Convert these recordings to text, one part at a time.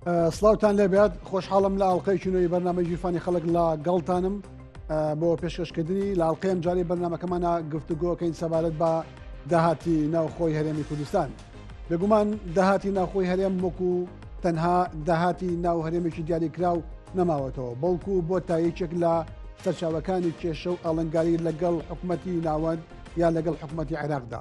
سلااوان لێبات خۆشحاڵم لە ئاڵلقەی چنەوەی بەرنامە ژیرفانی خەڵک لە گەڵتانم بۆ پێشکەشکردنی لاڵقەیەم جاری بەرنمەکەمانە گفتوگۆکەین سەبارەت بە داهاتی ناوخۆی هەرێمی کوردستان بێگومان داهاتی ناوخۆی هەرێم وەکو تەنها داهاتی ناو هەرێمێکی دیاریکراو نەماوەتەوە بەڵکو بۆ تا یەکێک لە سەرچاوەکانی کێشە و ئاڵنگاری لەگەڵ حکوومەتتی ناوەند یا لەگەڵ حکوومەتتی عێراقدا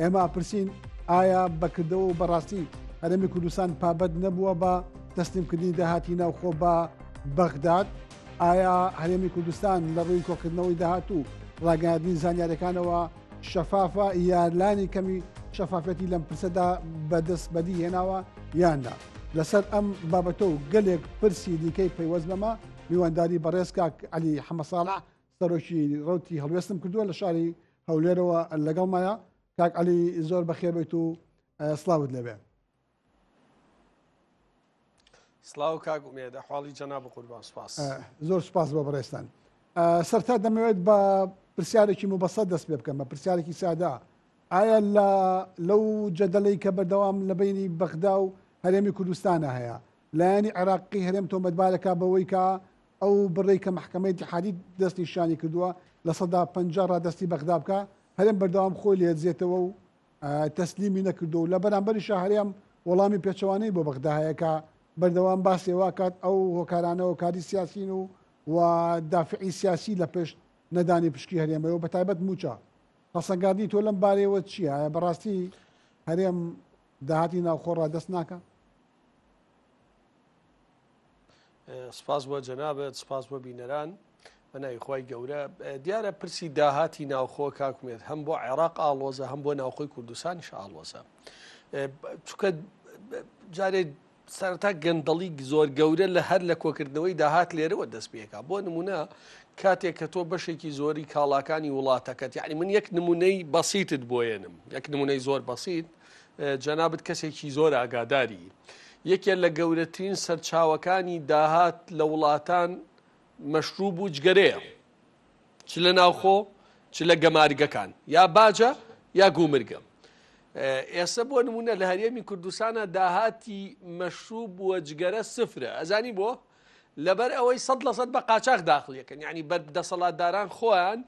ئێمە ئاپرسین ئایا بەکردەوە و بەڕاستی هەرێمی کوردستان پابەت نەبووە بە تەسلیمکردنی داهاتی ناوخۆ بە بەغداد ئایا هەرێمی کوردستان لە ڕووی کۆکردنەوەی داهات و ڕاگەاندنی زانیارەکانەوە شەفافە یارلانی کەمی شەفافەتی لەم پرسەدا بەدەست بەدی هێناوە یاندا لەسەر ئەم بابەتە و گەلێک پرسی دیکەی پەیوەست بەمە میوانداری بەڕێزکە علی حەمەساڵە سەرۆکی ڕوتی هەڵوێستم کردووە لە شاری هەولێرەوە لەگەڵ مایە کاک علی زۆر بەخێر بێت و سلااوت لەبێ سلااو کاک ئومێدە حاڵی جەنا بقوربان سپاس زۆر سپاس بە بەڕێستان سەرتا دەمەوێت بە پرسیارێکی مبەسە دەست پێ بکەم بە پرسیارێکی سادا ئایا لە لەو جەدەلەی کە بەردەوام لە بینی بەغدا و هەرێمی کوردستانە هەیە لایەنی عێراقی هەرێم تۆمەتبارەکە بەوەی کە ئەو بڕەی کە مەحکەمەی ئیتحادی دەستنیشانی کردووە لە سەدا پەنجا ڕادەستی بەغدا بکا، هەرێم بەردەوام خۆی لێدزێتەوە و تەسلیمی نەکردووە و لە بەرامبەریشا هەرێم وەڵامی پێچەوانەی بۆ بەغدا هەیە کە بەردەوام باسی ئەوە ئەکات ئەو هۆکارانە هۆکاری سیاسین و و دافعی سیاسی لە پشت نەدانی پشکی هەرێمەوە بە تایبەت موچە هەڵسەنگاندی تۆ لەم بارەیەوە چییە بەڕاستی هەرێم داهاتی ناوخۆ ڕادەست ناکە سپاس بۆ جەنابەت سپاس بۆ بینەران بەناوی خی گەورە دیارە پرسی داهاتی ناوخۆ کاکمێت هەم بۆ عێراق ئاڵۆزە هەم بۆ ناوخۆی کوردستانیش ئاڵۆزە چکە جارێ سەرتا گەندەڵی زۆر گەورە لە هەر لە کۆکردنەوەی داهات لێرەوە دەست پێکا بۆ نمونە کاتێک کە تۆ بەشێکی زۆری کاڵاکانی وڵاتەکەت یعنی من یەک نمونەی بەسیتت بۆیەنم یەک نمونەی زۆر بەسیت جەنابت کەسێکی زۆر ئاگاداری. یەکێ لە گەورەترین سەرچاوەکانی داهات لە وڵاتان مەشروب و جگەرەیە. چ لە ناوخۆ چ لە گەمارگەکان یا باجە یا گومرگە. ئێستا بۆ نمونە لە هەرێمی کوردستانە داهاتی مەشروب بووە جگەرە سفرە ئەزانی بۆ لەبەر ئەوەی سەد لە سەد بە قاچاخ داخڵ یەکەن یانی بەر دەسەڵاتداران خۆیان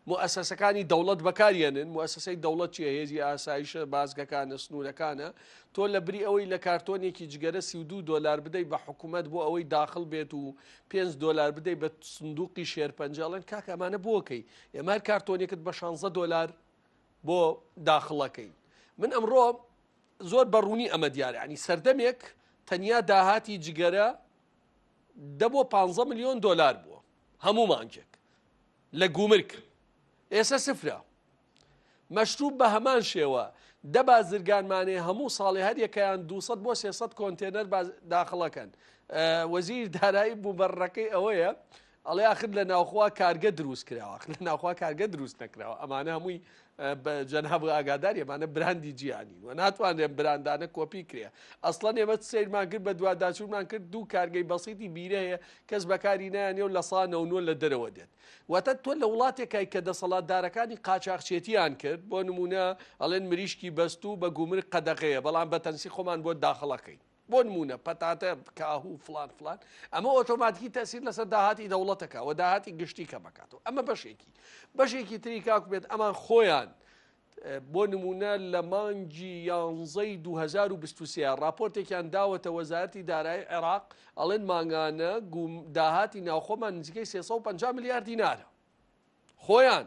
موئەسەسەکانی دەوڵەت بەکاریێنن موئەسەسەی دەوڵەت چیە هێزی ئاسایشە بازگەکانە سنوورەکانە تۆ لە بری ئەوەی لە کارتۆنێکی جگەرە سی دو دلار بدەیت بە حکوومەت بۆ ئەوەی داخل بێت و پێنج دلار بدەیت بە سندوقی شێرپەنجەڵێن کاکە ئەمانە بۆکەی ئێمار کارتۆنێکت بە 16 دلار بۆ داخڵەکەی من ئەمڕۆ زۆر بە ڕوونی ئەمە دیارە ینی سەردەمێک تەنیا داهاتی جگەرە دە بۆ پ میلیۆن دلار بووە هەموو مانجێک لە گومرک ئێسە سفرە مەشروب بە هەمان شێوە دە بازرگانمانێ هەموو ساڵێ هەریەکەیان 200 بۆ 300 کۆنتێنەر داخڵەکەن وەزیر دارایی بوو بەڕەکەی ئەوەیە ئەڵێ ئاخر لە ناوخوا کارگە دروست کراوە ئاخر لە ناوخوا کارگە دروست نەکراوە ئەمانە هەمووی بە جەناب ئاگاداری ئەمانە براندی جیهانی و ناتوانرێن براندانە کۆپی کرێ ئەسڵەن ئێمە سیرمان کرد بە دوواداچوونمان کرد دوو کارگەی بەسیتی بیرە هەیە کەس بەکاری نایانێ و لە سانەونوە لە دەرەوە دێت وەتە تۆ لە وڵاتێکای کە دەسەڵاتدارەکانی قاچاخچێتیان کرد بۆ نمونە ئەڵێن مریشکی بەست و بە گومر قەدەغەیە بەڵام بەتەنسی خۆمان بۆ داخڵەکەین بۆ نموونە پەتاتە، کاهوو فڵان فڵان، ئەمە ئۆتۆماتیکی تەسیر لەسەر داهاتی دەوڵەتەکە و داهاتی گشتی کە مەکاتەوە ئەمە بەشێکی بەشێکی تری کاک بێت ئەمان خۆیان بۆ نمونە لە مانگی یانزەی 2023 راپۆرتێکیان داوەتە وەزارتی دارایی عێراق ئەڵێن مانگانە گوم داهاتی ناوخۆمان نزیکەی 350 میلیارد دینارە خۆیان،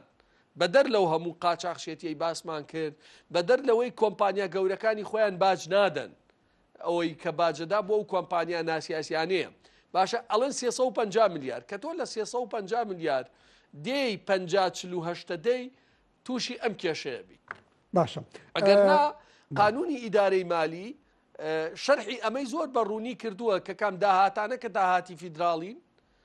بەدەر لەو هەموو قاچاخچێتیەی باسمان کرد، بەدەر لەوەی کۆمپانیا گەورەکانی خۆیان باج نادەن، ئەوەی کە باجەدا بۆ ئەو کۆمپانیا ناسیاسیانەیە، باشە ئەڵێن سێ سەد و پەنجا ملیار، کە تۆ لە سێ سەد و پەنجا ملیار دێی پەنجا چل و هەشتە دێی تووشی ئەم کێشەیە بی. باشە. ئەگەرنا قانونی ئیدارەی مالی شەرحی ئەمەی زۆر بە ڕوونی کردووە کە کام داهاتانە کە داهاتی فیدراڵین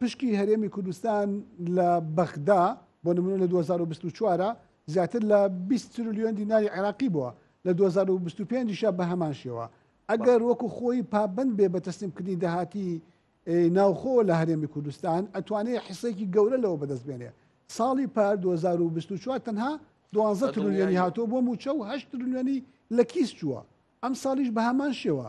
پشکی هەرێمی کوردستان لە بەغدا بۆ نمونە لە 2024 زیاتر لە 20 ترلیۆن دیناری عێراقی بووە لە 2025 بە هەمان شێوە ئەگەر وەکو خۆی پابند بێ بە تەسلیمکردنی داهاتی ناوخۆ لە هەرێمی کوردستان ئەتوانێت حسێکی گەورە لەوە بەدەست بێنێ ساڵی پار 2024 تەنها دوانزە ترلیۆنی هاتۆ بۆ موچە و هەشت ترلیۆنی لە کیس چووە ئەم ساڵیش بە هەمان شێوە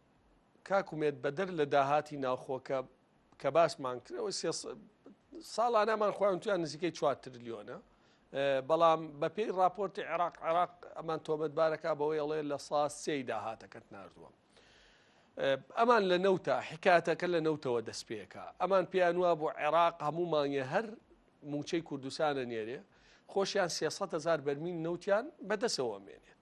کاک ئومێد بەدەر لە داهاتی ناوخۆکە کە باسمان کرەوە ساڵانەمان خۆیان تویان نزیکەی 4 ترلیۆنە بەڵام بەپێی راپۆرتی عێراق عێراق ئەمان تۆمەتبارەکە بەوەی ئەڵێ لە سا سێی داهاتەکەت نردووە ئەمان لە نەوتە حکاتەکە لە نەوتەوە دەست پێەکە ئەمان پێیان وە بۆ عێراق هەموو مانگە هەر موچەی کوردستانە نێرێ خۆشیان سێسەهزار بەرمین نەوتیان بەدەسەوە مێنێت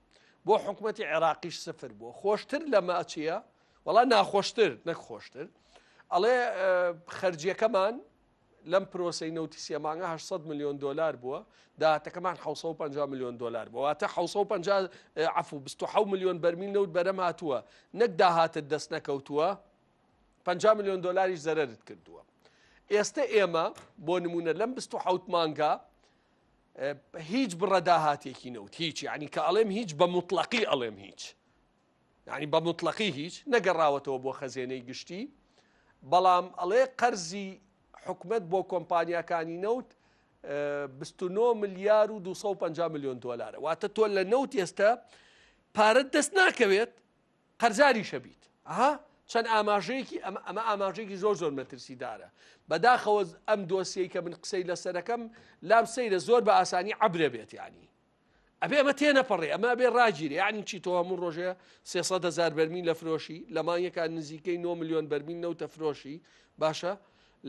بۆ حکوومەتی عێراقیش سفر بووە خۆشتر لەمە چییە وەڵا ناخۆشتر نەک خۆشتر ئەڵێ خەرجیەکەمان لەم پرۆسی نەوتی سێمانگە 800 میلیۆن دلار بووە داهاتەکەمان 650 میلیۆن دلار بوواتە 650 عفو 26 میلیۆن بەرمیل نەوت بەرەم هاتووە نەک داهاتت دەست نەکەوتووە 50 میلیۆن دلاریش زەرت کردووە ئێستا ئێمە بۆ نمونە لەم 26 مانگا هیچ بڕە داهاتێکی نەوت هیچ یعنی کە ئەڵێم هیچ بە مطلقی ئەڵێم هیچ یعنی بە مطلقی هیچ نەگەڕاوەتەوە بۆ خەزێنەی گشتی بەڵام ئەڵێ قەرزی حکومت بۆ کۆمپانیەکانی نەوت 29 ملیار و 250 میلیۆن دلارە واتە تۆ لە نەوت ئێستا پارەت دەست ناکەوێت قەرزاریشە بیت ئەها چەند ئاماژەیەکی ئەمە ئەمە ئاماژەیەکی زۆر زۆر مەترسیدارە بەداخەوە ئەم دۆسیەی کە من قسەی لەسەرەکەم لام سەیرە زۆر بە ئاسانی عبرە بێت ینی ئەبێ ئەمە تێ نەپەڕێ ئەمە بێ ڕاگیری یعنی چی تۆ هەموو ڕۆژێ سێسەد هزار بەرمین لە فرۆشی لە مانگەکان نزیکەی 9 میلیۆن بەرمین نەوتە فرۆشی باشە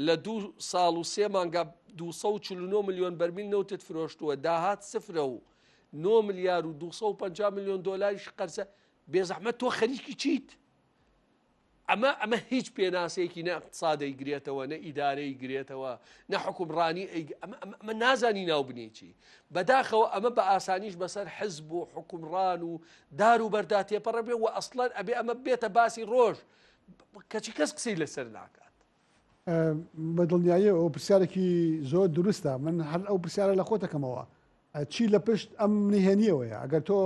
لە دوو ساڵ و سێ مانگا 249 میلیۆن بەرمین نەوتت فرۆشتووە داهات سفرە و 9 میلیار و 250 میلیۆن دلاریش قەرسە بێزەحمەت تۆ خەریکی چیت؟ ئەمە ئەمە هیچ پێناسێکی نە اقتصادی گرێتەوە نە ئیدارەی گرێتەوە نە حکومڕانی ئەمە نازانی ناو بنێکی بەداخەوە ئەمە بە ئاسانیش بەسەر حزب و حکومڕان و دار و بەردا تێپەڕە بێ و ئەسڵەن ئەبێ ئەمە بێتە باسی ڕۆژ کەچی کەس قسەی لەسەر ناکات بە دڵنیایە ئەو پرسیارێکی زۆر دروستە من هەر ئەو پرسیارە لە خۆتەکەمەوە چی لە پشت ئەم نهێنیەوەیە ئەگەر تۆ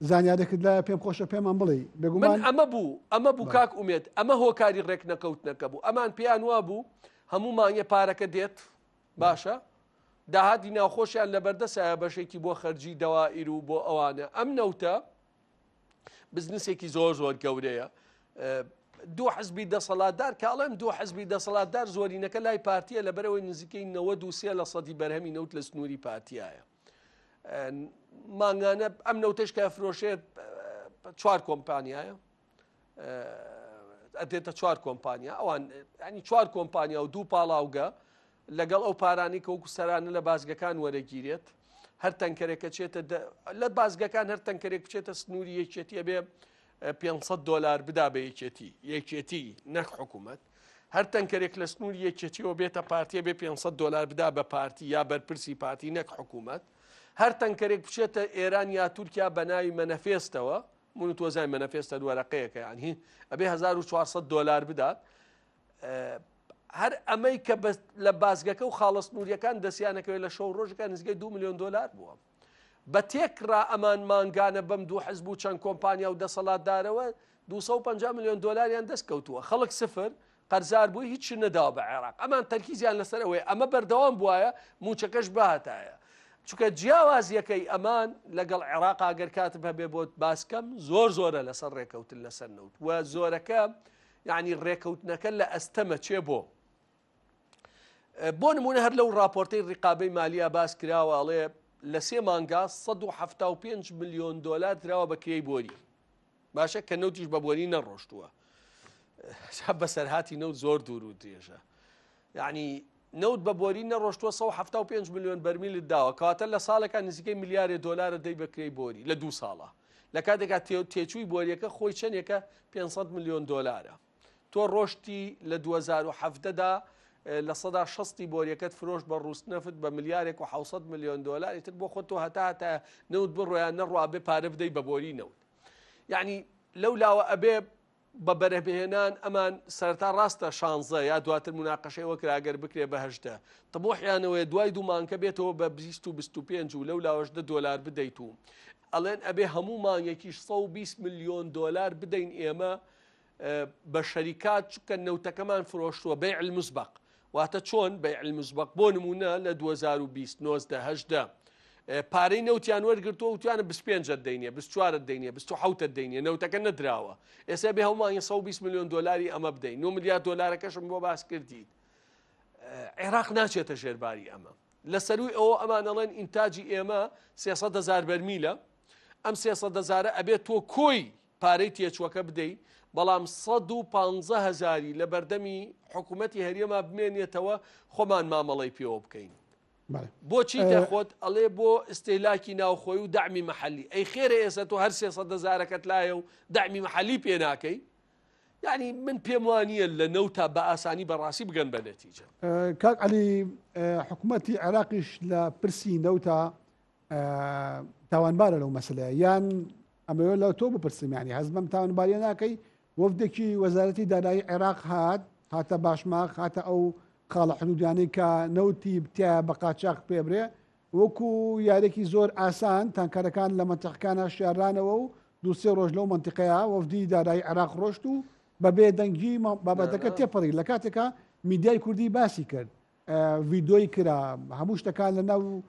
زانیارێکت لایە پێم خۆشە پێمان بڵێی بێگومان من ئەمە بوو ئەمە بوو کاک ئومێد ئەمە هۆکاری ڕێک نەکەوتنەکە بوو ئەمان پێیان وابوو هەموو مانگێ پارەکە دێت باشە داهاتی ناوخۆشیان لە بەردەسایە بەشێکی بۆ خەرجی دەوائیر و بۆ ئەوانە ئەم نەوتە بزنسێکی زۆر زۆر گەورەیە دوو حزبی دەسەڵاتدار کاڵێم دوو حزبی دەسەڵاتدار زۆرینەکە لای پارتیە لە بەرەوەی نزیکەی 93 لە سەدی بەرهەمی نەوت لە سنووری پارتیایە مانگانە ئەم نەوتەش کە فرۆشێت چوار کۆمپانیایە ئەدێتە چوار کۆمپانیا ئەوان ئەنی چوار کۆمپانیا و دوو پاڵاوگە لەگەڵ ئەو پارانی کە وەکو سەرانە لە بازگەکان وەرەگیرێت هەر تەنکەرێکە چێتە لە بازگەکان هەر تەنکەرێک بچێتە سنووری یەکێتیە بێ پێنج سەد دۆلار بدا بە یەکێتی یەکێتی نەک حکوومەت هەر تەنکەرێک لە سنووری یەکێتیەوە بێتە پارتیە بێ 500 دلار بدا بە پارتی یا بەرپرسی پارتی نەک حکوومەت هەر تەنکەرێک بچێتە ئێران یا تورکیا بە ناوی مەنەفێستەوە من و تۆزای مەنەفێستە دووەرەقەیەەکە یان هی ئەبێ 1400 دلار بدات هەر ئەمەی کە لە بازگەکە و خاڵە سنووریەکان دەستیانەکەوێت لە شەو ڕۆژەکان نزگەی دو میلیۆن دلار بووە بە تێکڕا ئەمان مانگانە بەم دوو حزب و چەند کۆمپانیا و دەسەڵاتدارەوە 250 ملیۆن دلاریان دەست کەوتووە خەڵک سفر قەرزار بووی هیچ نەداوە بە عێراق ئەمان تەرکیزیان لەسەر ئەوەیە ئەمە بەردەوام بواە موچەکەش باتایە چکە جیاوازیەکەی ئەمان لەگەڵ عێراق ئەگەر کات هەبێ بۆت باسکەم زۆر زۆرە لەسەر ڕێکەوتن لەسەر نەوت و زۆرەکە یعنی ڕێکەوتنەکە لە ئەستەمە چێ بۆ بۆ نمونە هەر لەو راپۆرتەی ڕقابەی مالیا باس کراوە ئەڵێ لە سێ مانگا 1970 میلیۆن دلار دراوە بە کرێی بۆری باشە کە نەوتیش بە بۆری نەڕۆشتووە بەسەر هاتی نەوت زۆر دوور و درێژە یعنی نەوت بە بۆری نەڕۆشتوە 1970 میلیۆن بەرمیل داوە کاتە لە ساڵەکە نزیکەی میلیارێ دلارە دەی بەکرێی بۆری لە دوو ساڵە لە کاتێکا تێچووی بۆریەکە خۆی چەندێکە 500 میلیۆن دلارە تۆ ڕۆشتی لە دوو هەزار و حەڤدە دا لە سەدا شەستی بۆریەکەت فرۆش بە ڕووس نەفت بە ملیارێک و حوسەت ملیۆن دۆلار ئیتر بۆ خۆ تۆ هەتا هەتا نەوت بڕۆیان نەڕوا بێ پارە بدەی بە بۆری نەوت یعنی لەو لاوە ئەبێ بە بەرەبهێنان ئەمان سەرتا ڕاستە شانزە یا دواتر مناقەشەی وەکراگەر بکرێ بەهشدە تەمۆحیانەوەی دوای دوومانکە بێتەوە بە 25 و لەو لاوەشدە دۆلار بدەیت و ئەڵێن ئەبێ هەموو مانگێکیش 120 میلیۆن دۆلار بدەین ئێمە بە شەریکات چکە نەوتەکەمان فرۆشتووە بەی المسبق واتە چۆن بەی المسبق بۆ نمونە لە 2020 1970 پارەی نەوتیان وەرگرتووە وتیانە 25 دەینێ 24 دەینێ 26 دەینێ نەوتەکە نەدراوە ئێستا بێ هەڵمان 120 میلیۆن دلاری ئەمە بدەین 9 میلیارد دلارەکەشم بۆ باس کردیت عێراق ناچێتە ژێرباری ئەمە لە سەروی ئەوە ئەمانەڵێن ئینتاجی ئێمە سێسە دەزار بەرمیلە ئەم سێسە دەزارە ئەبێت تۆ کۆی پارەی تێچوەکە بدەی بەڵام سەد و پانزە هەزاری لە بەردەمی حکوومەتی هەریەما بمێنێتەوە خۆمان مامەڵی پێوە بکەین بۆچی دەخۆت ئەڵێ بۆ ئستێلاکی ناوخۆی و دامی محلی ئەی خێرە ئێسە تۆ هەر سێسە دەزارەکەت لایە و دامی محلی پێ ناکەی یعنی من پێم وانە لە نەوتا بە ئاسانی بەڕاستی بگەن بە نەتیجە کاک علی حکوومەتتی عێراقیش لە پرسی نەوتا تاوانبارە لەو مەسلەیە یان ئەمەوێت لە تۆ بپرسیمانی هەز بەم تاوانباریە ناکەی وەفدێکی وەزارەتی دارایی عێراق هات هاتە باشماخ هاتە ئەو خاڵە حدودیانەی کە نەوتی بتیا بە قاچاق پێبرێ وەکو یارێکی زۆر ئاسان تانکارەکان لە منتەقەکانە شارانەوە و دووسێ ڕۆژ لەو منتیقەیە وەفدی دارایی عێراق ڕۆشت و بە بێدەنگی بابەتەکە تێپەڕی لە کاتێکە میدیای کوردی باسی کرد ڤیدۆی کرا هەموو شتەکان لە ناو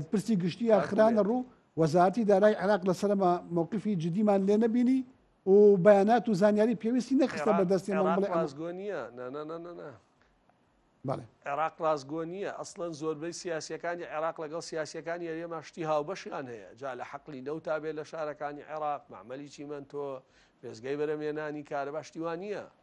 پرسی گشتیە خرانە ڕوو وەزارتی دارای عراق لەسەرمە مووقفی جدیمان لێ نەبینی و بەیانات و زانیاری پێویستی نەخستە بە دەستی ڕازگۆنیە عێراق ڕازگۆ نییە ئەسڵەن زۆربەی سیاسەکانی عێراق لەگەڵ سیاسەکانی یاریێمە شتی هاوبەشیان هەیە جا لە حەقلی نەوتا بێت لە شارەکانی عێراق معمەلی چیمەندۆ وێزگەی بەرەمێنانی کارە باشتیوان نییە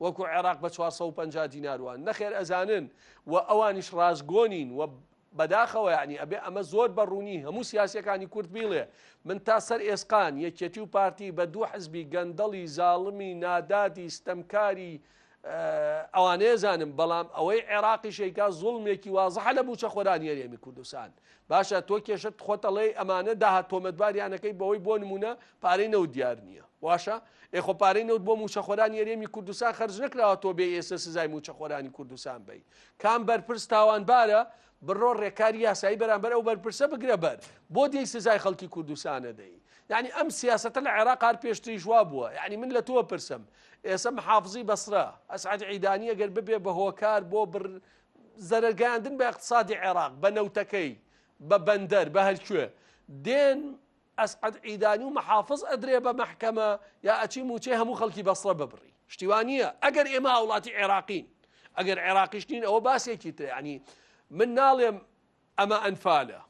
وەکو عێراق بە چوار سەد و پەنجا دینار وان نەخێر ئەزانن و ئەوانیش ڕاستگۆنین و بەداخەوە یعنی ئەبێ ئەمە زۆر بە ڕوونی هەموو سیاسەکانی کورد بیڵێ من تا سەر ئێسقان یەکێتی و پارتی بە دوو حزبی گەندەڵی زاڵمی نادادی ستەمکاری ئەوانەیە زانم بەڵام ئەوەی عێراقی شەیکا زوڵمێکی وازحە لە بوچە خۆرانیەرێمی کوردستان باشە تۆ کێشەت خۆت ئەڵێی ئەمانە داهات تۆمەتباریانەکەی بەوەی بۆ نمونە پارەی نەوت دیار نییە واشە ئێخۆ پارەی نەوت بۆ موچەخۆرانی یەرێمی کوردستان خەرج نکراوە تۆ بێ ئێستا سزای موچەخۆرانی کوردستان بی کام بەرپرس تاوانبارە بڕۆ ڕێکاری یاسایی بەرامبەر ئەو بەرپرسە بگرە بەر بۆ دێی سزای خەڵکی کوردستانە دەی یعنی ئەم سیاستە لە عێراق هەر پێشتریش وا بووە یعنی من لە تۆ پرسم ئێسم حافزی بەسرە ئەسعات عیدانی ئەگەر ببێ بە هۆکار بۆ بڕ زەرەر گەیاندن بە اقتصادی عێراق بە نەوتەکەی بە بەندەر بە هەرکوێ دێن ئەسعد عیدانی و محافظ ئەدرێ بە مەحکەمە یا ئەچی موچەی هەموو خەڵکی بەسڕە ببڕی شتیوانە ئەگەر ئێمە هاوڵاتی عێراقین ئەگەر عێراقیش نین ئەوە باسێکی تر ینی من ناڵێم ئەمە ئەنفالە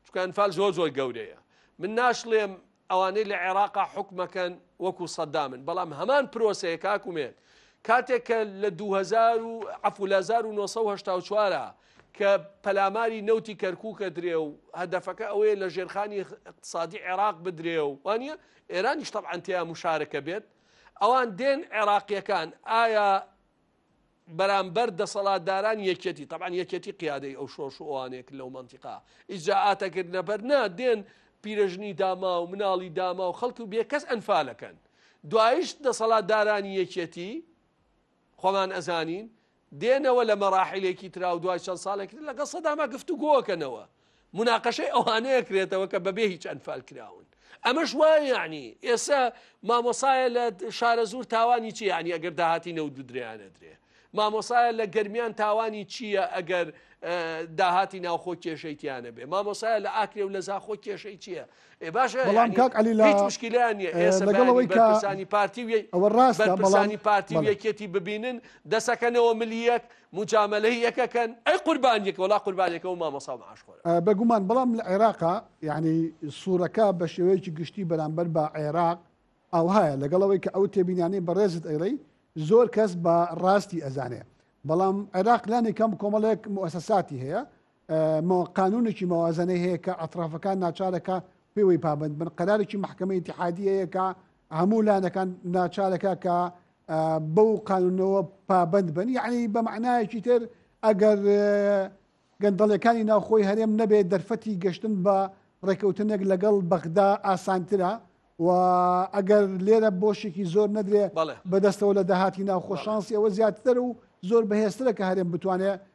چونکە ئەنفال زۆر زۆر گەورەیە من ناشڵێم ئەوانەی لە عێراقا حکومەکەن وەکو سەدامن بەڵام هەمان پرۆسەیە کاکومێت کاتێک کە لە 2000 و عفو لە 1970 کە پەلاماری نەوتی کەرکووکە درێ و هەدەفەکە ئەوەیە لە ژێرخانی اقتصادی عێراق بدرێ و وانە ئێرانیش تەعاانتەیە مشارەکە بێت ئەوان دێن عێراقیەکان ئایا بەرامبەر دەسەڵاتدارانی یەکێتی، تەبعەن یەکێتی قیادەی ئەو شۆرش و ئەوانەیە کە لەو مەنتیقە ئیجرائاتە گرتنە بەر، نا دێن پیرەژنی داماو، مناڵی داماو، خەڵکی بێ کەس ئەنفالەکەن. دواییش دەسەڵاتدارانی یەکێتی، خۆمان ئەزانین، دێنەوە لە مەراحیلێکی ترا و دوای چەند ساڵێکی تر لەگەڵ سەداما گفتوگۆ ئەکەنەوە. مناقەشەی ئەوانەیە کرێتەوە کە بەبێ هیچ ئەنفال کراون ئەمەش وای یعنی ئێستا مامۆسایە لە شارە زور تاوانی چی ینی ئەگەر داهاتی نەوت بدریانە درێ مامۆسایە لە گەرمیان تاوانی چییە ئەگەر داهاتی ناوخۆ کێشەیتیانە بێ مامۆسایە لە ئاکرێ و لە زاخۆ کێشەی چییە بەڵام کاک عەلی لە لەگەڵ ئەوەی کە ئەوە ڕاستە بەڵام پارتی و یەکێتی ببینن دەسەکەنەوە ملیەک مجاملەی یەکەکەن ئەی قوربانیەکە وڵا قوربانەکە و مامەسا عاشخۆر بەگومان بەڵام لە عێراقا یعنی سوورەکە بە شێوەیەکی گشتی بەرامبەر بە عێراق ئەوهایە لەگەڵەوەی کە ئەو تێبینانەی بەڕێزت ئەیڵی زۆر کەس بە ڕاستی ئەزانێ بەڵام عێراق لانی کەم کۆمەڵێک موسەساتی هەیە قانونێکی مەوازەنەی هەیە کە ئەطرافەکان ناچارەکە پێوەی پابند بن قەرارێکی محکمە اتحادی هەیە کە هەموو لانەکان ناچارەکە کە بەو قانونەوە پابند بن یعنی بە معنایەکی تر ئەگەر گەندەڵەکانی ناوخۆی هەرێم نەبێت دەرفەتی گەشتن بە ڕێکەوتنێک لەگەڵ بەغدا ئاسانترە و ئەگەر لێرە بۆشێکی زۆر نەدرێ بەدەستەوە لە داهاتی ناوخۆشانسی ئەوە زیاتر و زۆر بەهێزترە کە هەرێم بتوانێت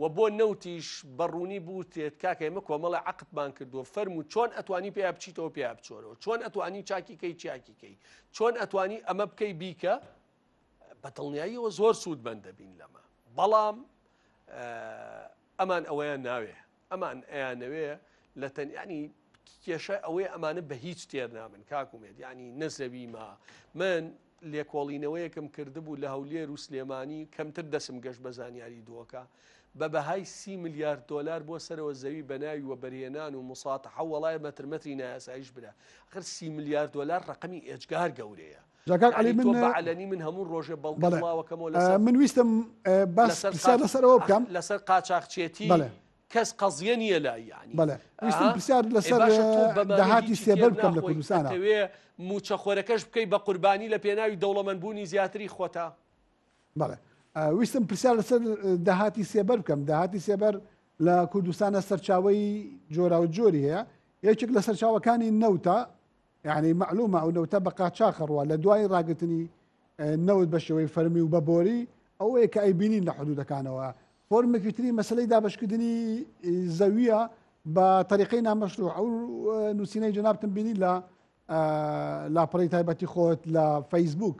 وە بۆ نەوتیش بە ڕوونی بوترێت کاکە ئێمە کۆمەڵە عەقدمان کردووە فەرموو چۆن ئەتوانی پێیا بچیتەوە پێیا بچۆرەوە چۆن ئەتوانی چاکی کەی چاکی کەی چۆن ئەتوانی ئەمە بکەی بیکە بە دڵنیاییەوە زۆر سوود بەندەبین لەمە بەڵام ئەمان ئەوەیان ناوێ ئەمان ئەیانەوێ لە تەن ینی کێشە ئەوەی ئەمانە بە هیچ تێر نابن کاکومێت ینی نەزەوی ما من لێکۆڵینەوەیەکم کردبوو لە هەولێر و سلێمانی کەمتر دەسم گەشت بە زانیاری دۆکە بە بەهای سی میلیارد دلار بۆ سەرەوە زەوی بەناوی وە بەرهێنان و مساتە حەوەڵای مەترمەتری نایاسایش برا خر سی میلیارد دلار ڕقمی ئێجگار گەورەیە جا کاک عەلی من بە عەلەنی من هەموو ڕۆژێ بەڵگە بڵاوەکەمەوە لەسەر من ویستم باس پرسیار لەسەر ئەوە بکەم لەسەر قاچاخچێتی کەس قەزیە نییە لای یعنی بەڵێ ویستم پرسیار لەسەر داهاتی سێبەر بکەم لە کوردستانە وێ موچەخۆرەکەش بکەی بە قوربانی لە پێناوی دەوڵەمەندبوونی زیاتری خۆتا بەڵێ ویستم پرسیار لەسەر داهاتی سێبەر بکەم داهاتی سێبەر لە کوردستانە سەرچاوی جۆراو جۆری هەیە یەکێک لە سەرچاوەکانی نەوتە یعنی معلومە ئەو نەوتە بە قاچاخ ڕوە لە دوای ڕاگرتنی نەوت بە شێوەی فەرمی و بە بۆری ئەوەیە کە ئەی بینین لە حدودەکانەوە فۆرمێکی تری مەسلەی دابشکردنی زەویە بە طریقی نامەشروع ئەو نووسینەی جنابتم بینی لە لاپەڕی تایبەتی خۆت لە فەیسبوک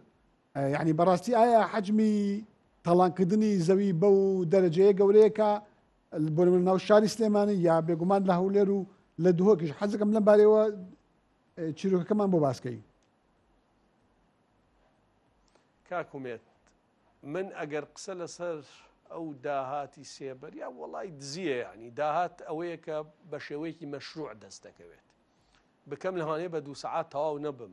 یەعنی بەڕاستی ئایا حەجمی تاڵانکردنی زەوی بەو دەرەجەیە گەورەیە کە بۆ ناو شاری سلێمانی یا بێگومان لە هەولێر و لە دهۆکیش حەزەکەم لەم بارەوە چیرۆکەکەمان بۆ باسکەی کاکومێت من ئەگەر قسە لەسەر ئەو داهاتی سێبەر یا وڵی دزیە ینی داهات ئەوەیە کە بە شێوەیەکی مەشروع دەست دەکەوێت بکەم لەوانەیە بە دوو سەعات تەواو نەبم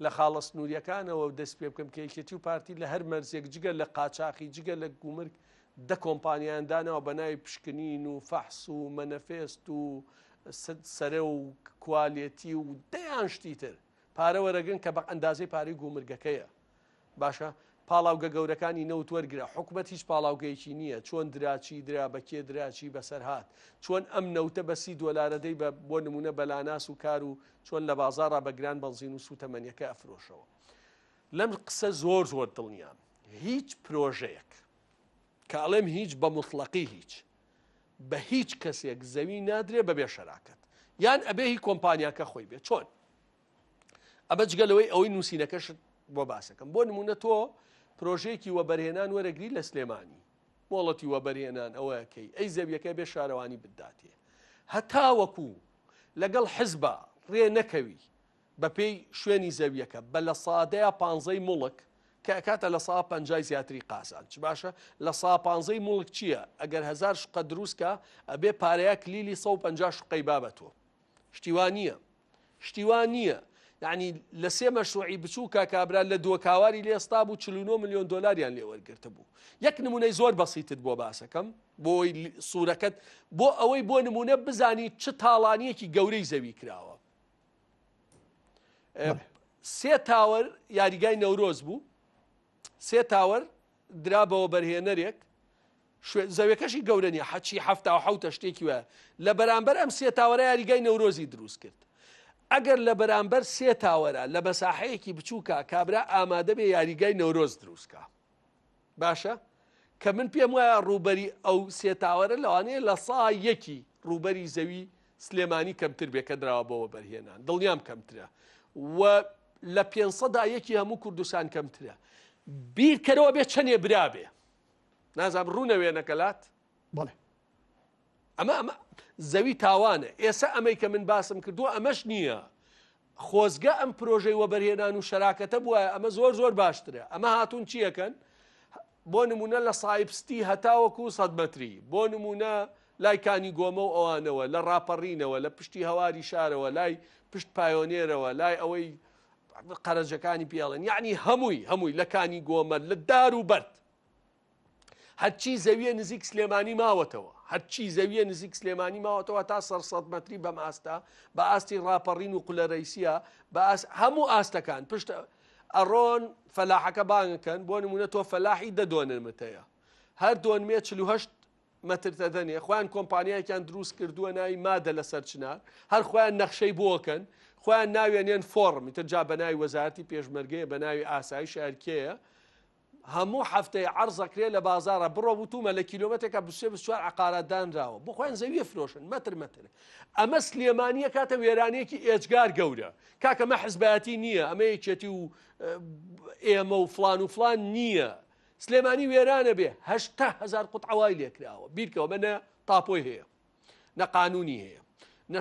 لە خاڵە سنووریەکانەوە و دەست پێ بکەم کە یەکێتی و پارتی لە هەر مەرزێک جگە لە قاچاخی جگە لە گومرگ دە کۆمپانیان داناوە بە ناوی پشکنین و فەحس و مەنەفێست و سەرە و کوالێتی و دەیان شتی تر پارە وەرەگرن کە بە ئەندازەی پارەی گومرگەکەیە باشە پاڵاوگە گەورەکانی نەوت وەرگرە حکومەت هیچ پاڵاوگەیەکی نییە چۆن درا چی درا بە کێ درا چی بەسەر هات چۆن ئەم نەوتە بە سی دۆلارە دەی بە بۆ نمونە بەلاناس و کار و چۆن لە بازارڕا بە گران بەنزین و سووتەمەنیەکە ئەفرۆشەوە لەم قسە زۆر زۆر دڵنیام هیچ پرۆژەیەک کاڵێم هیچ بە مطلقی هیچ بە هیچ کەسێک زەوی نادرێ بەبێ شەراکەت یان ئەبێ هی کۆمپانیاکە خۆی بێ چۆن ئەمە جگە لەوەی ئەوەی نووسینەکەشت بۆ باسەکەم بۆ نمونە تۆ پرۆژێکی وەبەرهێنان وەرەگری لە سلێمانی مۆڵەتی وەبەرهێنان ئەوەکەی ئەی زەویەکە بێ شارەوانی بداتێ هەتا وەکو لەگەڵ حزبە ڕێ نەکەوی بەپێی شوێنی زەویەکە بە لە سادەیە پانزەی مڵک کە کاتە لە سا پ زیاتری قاسان چ باشە لە سا پ مڵک چییە ئەگەر هزار شقە دروستکە ئەبێ پارەیە کلیلی 150 شقەی بابەتۆ شتیوان نییە شتی وا نییە یعنی لە سێ مەشروعی بچوو کا کابرا لە دۆ کاواری لێستا بوو 49 میلیۆن دلاریان لێوەرگرتە بوو یەک نمونەی زۆر بەسیتت بۆ باسەکەم بۆی سوورەکەت بۆ ئەوەی بۆ نمونە بزانی چ تاڵانیەکی گەورەی زەوی کراوە سێ تاوەر یاریگای نەورۆز بوو سێ تاوەر درا بە وەبەرهێنەرێک شوێ زەوێکەشی گەورە نیە حەچی هەفتا و حوتە شتێکی وە لە بەرامبەر ئەم سێ تاوەرە یاریگای نەورۆزی دروست کرد ئەگەر لە بەرامبەر سێ تاوەرە لە بەساحەیەکی بچووکە کابرا ئامادە بێ یاریگای نەورۆز دروستکە باشە کە من پێم وایە ڕووبەری ئەو سێ تاوەرە لەوانەیە لە سا یەکی ڕووبەری زەوی سلێمانی کەمتر بێ کە دراوە بەوە بەرهێنان دڵنیام کەمترە و لە پێنج سەدا یەکی هەموو کوردستان کەمترە بیرکەرەوە بێ چەندێ برابێ نازام ڕوونە وێنەکەلات بڵێ ئەمە ئەمە زەوی تاوانە ئێستا ئەمەی کە من باسم کردووە ئەمەش نییە خۆزگە ئەم پرۆژەی وەبەرهێنان و شەراکەتە بووە ئەمە زۆر زۆر باشترە ئەمە هاتوون چیەکەن بۆ نمونە لە سایبستی هەتاوەکو سەدمەتری بۆ نمونە لای کانی گۆمە و ئەوانەوە، لە ڕاپەڕینەوە، لە پشتی هەواری شارەوە، لای پشت پایۆنێرەوە، لای ئەوەی قەرەجەکانی پێ ئەڵێن، یەعنی هەمووی، هەمووی، لە کانی گۆمە، لە دار و بەرد. هەرچی زەوییە نزیک سلێمانی ماوەتەوە، هەرچی زەوییە نزیک سلێمانی ماوەتەوە هەتا سەر سەد مەتری بەم ئاستە، بە ئاستی ڕاپەڕین و قولەرەیسییە، بە ئاست هەموو ئاستەکان، پشت ئەڕۆن فەلاحەکە بانگ ئەکەن، بۆ نموونە تۆ فەلاحی دە دۆنمت هەیە، هەر دۆنمێ چل و هەشت مەترتەدەنێ خۆیان کۆمپانیایکیان دروست کردووە ناوی مادە لە سەرچنار هەر خۆیان نەخشەی بۆکەن خۆیان ناوێنێن فۆڕمی تر جا بە ناوی وەزارتی پێشمەرگەیە بە ناوی ئاسایش هەرکەیە هەموو هەفتەی عرضەکرێ لە بازارە بڕۆ وتومە لە کیلومتێکە بسێ بسوار عقارات دانراوە بخۆیان زەویە فرۆشن مەتر مەتر ئەمە سلێمانیە کاتە وێرانەیەکی ئێجگار گەورە کاکەمە حزبایەتی نییە ئەمە یەکێتی و ئێمە و فلان و فلان نییە سلێمانی وێرانە بێ هەشتا هەزار قوتعە وای لێکراوە بیرکەوە بە نە تاپۆی هەیە نە قانونی هەیە نە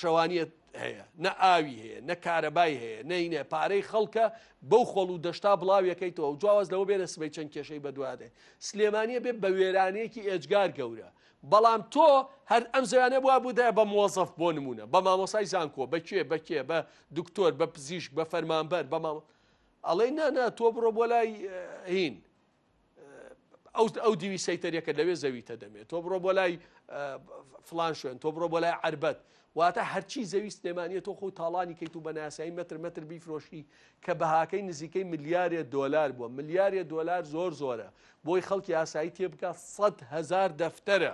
شەوانیت هەیە نە ئاوی هەیە نە کارەبای هەیە نەینە پارەی خەڵکە بەو خۆڵ و دەشتا بڵاویەکەیتەوە و جیاواز لەوە بێنە سبەی چەند کێشەی بەدوادێت سلێمانیە بێ بە وێرانەیەکی ئێجگار گەورە بەڵام تۆ هەر ئەم زیانە بووە بوودە بە مۆزەف بۆ نمونە بە مامۆسای زانکۆ بەکێ بەکێ بە دکتۆر بە پزیشک بە فەرمانبەر بە مامۆ ئەڵێی نا نا تۆ بڕۆ بۆ لای هین ئەو ئەو دیوی سەیتەریەکە لەوێ زەویتە دەمێت تۆ بڕۆ بۆ لای فلان شوێن تۆ بڕۆ بۆ لای عربەت واتە هەرچی زەوی سلێمانە تۆ خۆ تاڵانی کەیت و بەناسایی متر متر بیفرۆشی کە بەهاکەی نزیکەی ملیارێ دۆلار بووە ملیارێ دۆلار زۆر زۆرە بۆی خەڵکی ئاسایی تێبگات سەد هزار دەفتەرە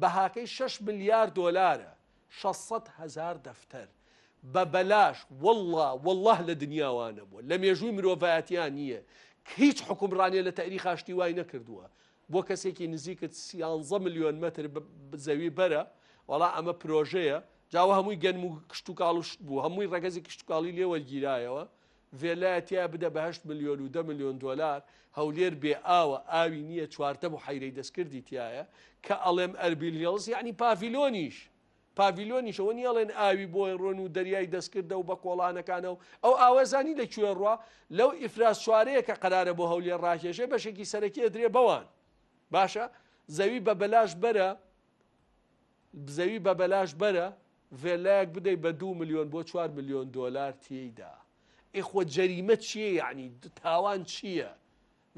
بەهاکەی شەش ملیار دۆلارە شەش سەد هەزار دەفتەر بە بەلاش واللە واللە لە دنیا وا نەبووە لە مێژووی مرۆڤایەتیا نییە ک هیچ حوکمڕانێ لە تەئریخا شتی وای نەکردووە بۆ کەسێکی نزیکت سیانزە ملیۆن مەتر زەوی بەرە وەڵا ئەمە پرۆژەیە جاوە هەمووی گەنم و کشتوکاڵ و شت بوو هەمووی ڕەگەزی کشتتوکاڵی لێ وەرگیرایەوە ڤێلایە تیا بدە بە هەشت ملیۆن و دە ملیۆن دۆلار، هەولێر بێ ئاوە، ئاوی نییە، چوارتە بوحەیرەی دەستکردی تیایە، کە ئەڵێم ئەربیل هیڵز یەعنی پاڤیلۆنیش، پاڤیلۆنیش ئەوە نییە ئەڵێن ئاوی بۆی ڕۆن و دەریای دەستکردە و بە کۆڵانەکانە و ئەو ئاوە زانی لە کوێ ڕوا؟ لەو ئیفراسچوارەیە کە قەرارە بۆ هەولێر ڕاکێشێ بەشێکی سەرەکی ئەدرێ بەوان. باشە زەوی بە بەلاش بەرە زەوی بە بەلاش بەرە ڤێلایەک بدەی بە دوو ملیۆن بۆ چوار ملیۆن دۆلار تێیدا ئێ خۆ جەریمە چییە یعنی تاوان چییە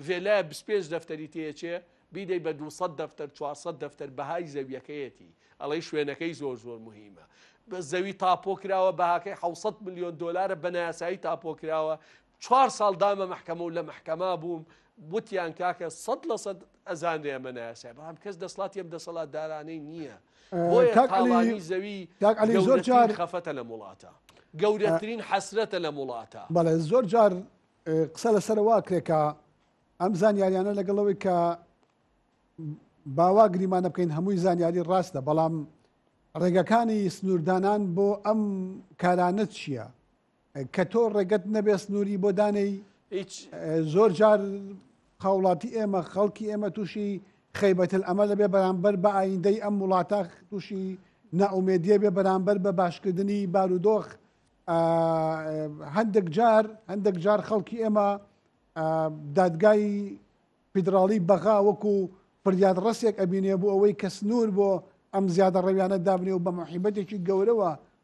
ڤێلایە بیست پێنج دەفتەری تێچێ بیدەی بە دوو سەد دەفتەر چوار سەد دەفتەر بەهای زەویەکەیەتی ئەڵێی شوێنەکەی زۆر زۆر مهمە بە زەوی تاپۆ کراوە بەهاکەی حەوت ملیۆن دۆلارە بە نایاسایی تاپۆ کراوە چوار ساڵ دامە مەحکەمە و لە مەحکەما بووم وتیان کاکە سەد لە سەد ئەزانرێ ئەمە نایاسای بەڵام کەس دەسڵاتی ئەم دەسەڵاتدارانەی نییە بۆیە کاک عەلی- تاڵانی زەوی کاک عەلی زۆر گەورەترین جار- خەفەتە لەم وڵاتە گەورەترین حەسرەتە لەم وڵاتە بەڵێ زۆر جار اه، قسە لەسەر وا کرێ کە ئەم زانیاریانە لەگەڵ ئەوەی کە باوا گریمانە بکەین هەمووی زانیاری ڕاستە بەڵام ڕێگەکانی سنووردانان بۆ ئەم کارانە چییە؟ کە تۆ ڕێگەت نەبێ سنووری بۆ دانێی هیچ زۆر جار هاوڵاتی ئێمە خەڵکی ئێمە تووشی خەیبەتل ئەمە لەبێ بەرامبەر بە ئایندەی ئەم وڵاتە تووشی ناومێدیە بێ بەرامبەر بە باشکردنی بارودۆخ هەندێک جار هەندێک جار خەڵکی ئێمە دادگای فیدراڵی بەغا وەکو فریاد ڕسێک ئەبینێ بۆ ئەوەی کە سنوور بۆ ئەم زیادە ڕەویانە دابنێ و بە محیبەتێکی گەورەوە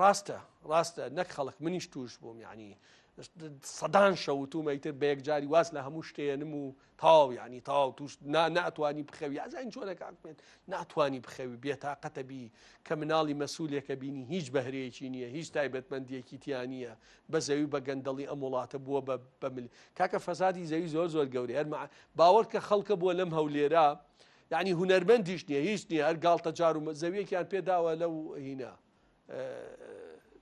ڕاستە ڕاستە نەک خەڵک منیش توش بووم یعنی سەدان شەوتومە ئیتر بە یەکجاری واز لە هەموو شتێنم و تاو یعنی تاو توش ناتوانانی بخەوی ئازین چۆنەکان بێت ناتوانانی بخەوی بێتاقەتە بی کە مناڵی مەسوولێکە بینی هیچ بەهرەیەکی نییە هیچ تایبەتمەندیەکی تیانە بە زەوی بە گەندەڵی ئەم وڵاتە بووە بە بەمل کاکە فەسادی زەوی زۆر زۆر گەورەیە باوەڕ کە خەڵکە بووە لەم هەولێرە یەعنی هونەرمەندیش نیە هیچ نیە هەر گاڵتە جار و زەویەکیان پێ داوە لەو هینا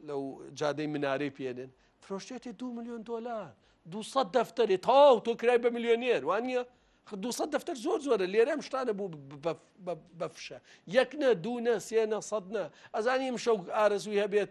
لەو جادەی منارەی پێێنن فرۆشتێتی دو میلیۆن دلار دو دەفتەری تاو تۆ کرای بە میلیۆنێر وان نیە دو دەفتەر زۆر زۆرە لێرەم شتانە بوو بەفشە یەک نە دوو نە سێ نە سەد نە ئەزانیم شەو ئارەزوی هەبێت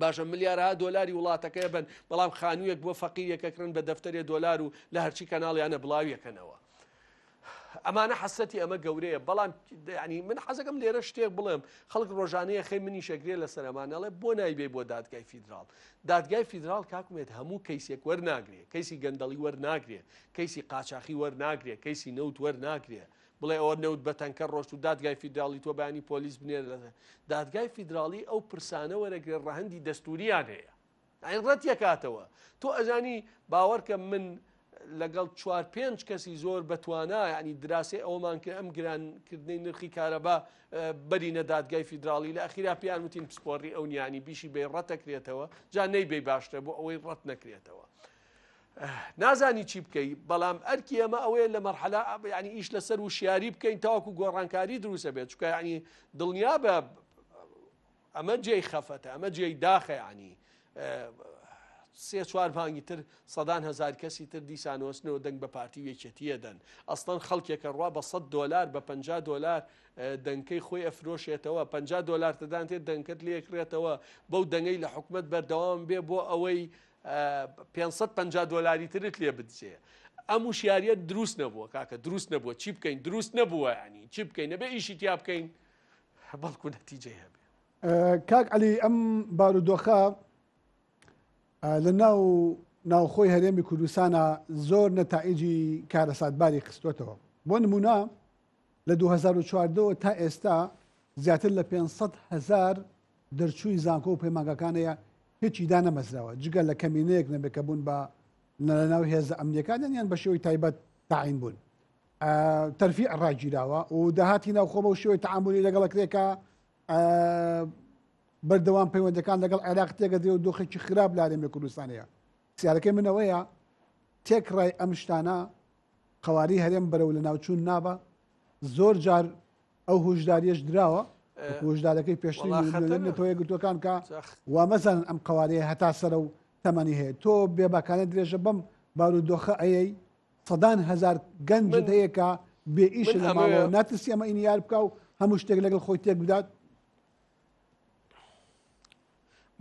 باشە ملیارەها دۆلاری وڵاتەکەی بن بەڵام خانوویەک بۆ فەقیریەکە کڕن بە دەفتەرێ دۆلار و لە هەرچی کەناڵیانە بڵاویەکەنەوە ئەمانە حەسەتی ئەمە گەورەیە بەڵام ینی من حەزەکەم لێرە شتێک بڵێم خەڵک ڕۆژانەیە خەی منی شەگرێ لە سەرمانەڵێ بۆ نایبێ بۆ دادگای فیدرال دادگای فیدرال کاکمێت هەموو کەیسێک وەرناگرێ کەیسی گەندەڵی وەرناگرێ کەیسی قاچاخی وەرناگرێ کەیسی نەوت وەرناگرێ بڵێ ئەوە نەوت بە تەنکەر ڕۆشت و دادگای فیدراڵی تۆ بەیانی پۆلیس بنێرە دادگای فیدراڵی ئەو پرسانە وەرەگرێ ڕەهەندی دەستوریان هەیە ئەین ڕەت یەکاتەوە تۆ ئەزانی باوەڕکە من لەگەڵ چوار پێنج کەسی زۆر بەتوانا ینی دراسی ئەومان کرد ئەم گرانکردنی نرخی کارەبا بەرینە دادگای فیدراڵی لە ئەخیرا پێیان وتین پسپۆری ئەو نیانی بیشی بێ ڕەتەکرێتەوە جا نەیبێ باشتر بۆ ئەوەی ڕەت نەکرێتەوە. نازانی چی بکەی بەڵام ئەرکی ئەمە ئەوەیە لە مەرحەلا ینی ئیش لەسەر وشیاری بکەین تاوەکو گۆڕانکاری دروستە بێت چکە ینی دڵنیا بە ئەمە جێی خەفەتە ئەمە جێی داخەیانی سێ چوار مانگی تر سەدان هزار کەسی تر دیسانۆستنەوە دەنگ بە پارتی وێکێتیە دەن ئەستان خەڵکێکە ڕوا بە 100 دلار بە 50 دلار دەنکەی خۆی ئەفرۆشێتەوە 50 دلار تدانێت دەنکت لێکرێتەوە بەو دەنگەی لە حکومت بەردەوام بێ بۆ ئەوەی پێنج سەد و پەنجا دۆلاری ترت لێ بدزێ ئەم وشیاریت دروست نەبووە کاکە دروست نەبووە چی بکەین دروست نەبووە ینی چی بکەین نەبێ ئیشی تیا بکەین بەڵکو نەتیجەی هەبێ کاک علی ئەم بارودۆخە لە ناو ناوخۆی هەرێمی کوردستانە زۆر نەتائجی کارەساتباری خستوتەوە بۆ نمونە لە دوو هەزار و چواردە وە تا ئێستا زیاتر لە پێنج سەد هەزار دەرچووی زانکۆ و پەیمانگاکان هەیە هیچی دانەمەزراوە جگە لە کەمینەیەک نەبێت کە بوون بە لەناو هێزە ئەمنیەکان یان بە شێوەی تایبەت تاعین بوون تەرفی ڕاگیراوە و داهاتی ناوخۆ بە شێوەی تعاملی لەگەڵ کرێکە بەردەوام پەیوەندەکان لەگەڵ عێراق تێگەدرێ و دۆخێکی خراپ لارێمە کوردستانەیە سیارەکەی منەوەیە تێکڕای ئەم شتانە قەوارەی هەرێم بەرەو لەناوچوون نابا زۆر جار ئەو هۆشداریش دراوە هۆشدارەکەی پێشتەوە گرتوەکان کە و مەزان ئەم قوارەیە هەتا سەرە و تەمەنی هەیە تۆ بێباکانە درێژە بەم بارودۆخە ئەیەی سەدان هزار گەنج هەیەکە بێ ئیش ناترسی ئەمە ئینیار بکە و هەموو شتێک لەگەڵ خۆی تێک بدات